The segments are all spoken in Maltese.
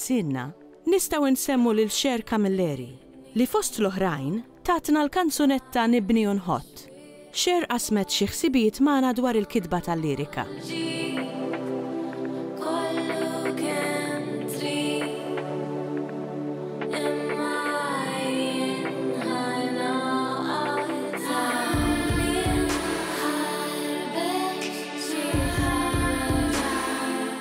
Sidna, nistgħu nsemmu lil Cher Camilleri, li fost l-oħrajn tatna l-kanzunetta Nibni u Nħott. Cher qasmet xi ħsibijiet magħna dwar il-kitba tal-lirika.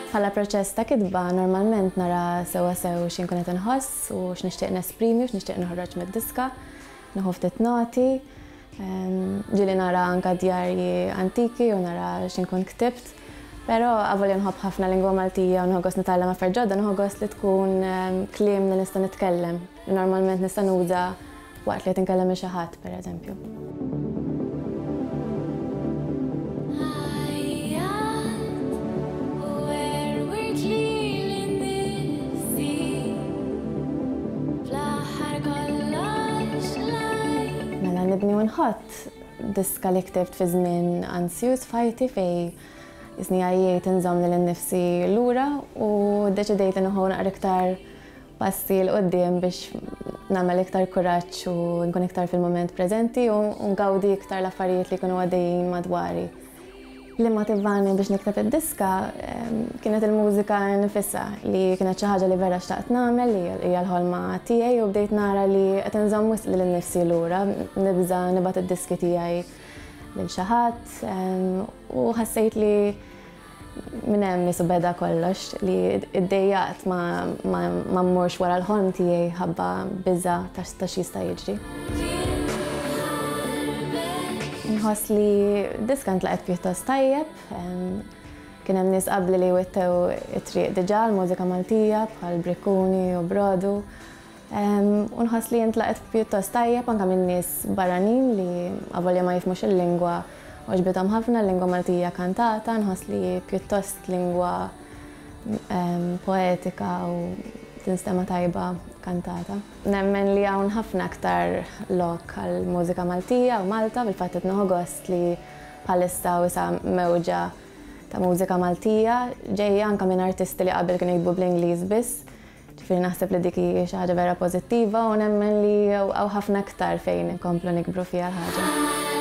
Bħala proċess ta' kitba, normalment nara sewwa sew xi nkun qed inħoss u x'nixtieq nesprimi u x'nixtieq noħroġ mid-diska. Nieħu ftit noti. Ġieli nara anke djarji antiki u nara xi nkun ktibt. Però avolja nħobb ħafna l-lingwa Maltija u nieħu gost nitgħallem affarijiet ġodda, nieħu gost li tkun kliem li nista' nitkellem. Normalment nista' nuża waqt li qed inkellem lil xi ħadd, pereżempju. nibni u nħatt diska li ktibt fi żmien ansjuż f'ħajti fej isni għajjejt inżomm lil innifsi lura u deċidejt li nħu naqra iktar passi 'l quddiem biex nagħmel iktar kuraġġ u nkun iktar fil-mument preżenti u ngawdi iktar l-affarijiet li jkunu għaddejjin madwari. Li motivani biex nikteb id-diska ehm, kienet il-mużika nifissa li kienet xi ħaġa li vera xtaqt nagħmel li hija l-ħolma tiegħi u bdejt nara li qed inżomm wisq lil nifsi lura, nibża nibgħat id-diski tiegħi lil xi ħadd ehm, u ħassejt li Minn hemm qisu beda kollox, li ddejjaqt ma mmurx wara l-ħolm tiegħi ħabba biża' ta' x'jista' jiġri. Inħoss li d-diska ntlaqgħet pjuttost tajjeb. Kien hemm nies qabli li wittew it-triq diġà għall-mużika Maltija bħal Brikkuni u Brodu. U nħoss li intlaqgħet pjuttost tajjeb anke minn nies barranin li avolja ma jifhmux il-lingwa għoġbithom ħafna l-lingwa Maltija kantata, nħoss li hi pjuttost lingwa poetika u tinstema' tajba kantata. Nemmen li hawn ħafna aktar lok għall-mużika Maltija u Malta, fil-fatt qed nieħu gost li bħalissa wisa' mewġa ta' mużika Maltija ġejja anke minn artisti li qabel kienu jiktbu bl-Ingliż biss, Ġifieri naħseb li dik hi xi ħaġa vera pożittiva u nemmen li hawn ħafna iktar fejn inkomplu nikbru fiha l-ħaġa.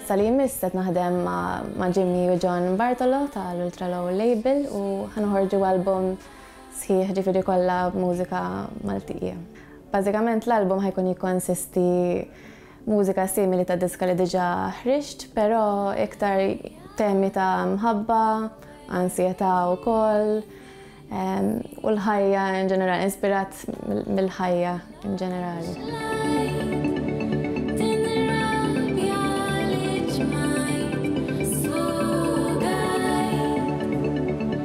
Sa li jmiss qed naħdem ma' Jimmy u John Bartolo ta' l-Ultra Low Label u ħanoħorġu album sħiħ ġifieri kollha b'mużika Maltija. Bażikament l-album ħa jkun jikkonsisti mużika simili ta' diska li diġà ħriġt, però iktar temi ta' mħabba, ansjetà wkoll u l-ħajja in ġenerali, inspirat mill-ħajja in ġenerali.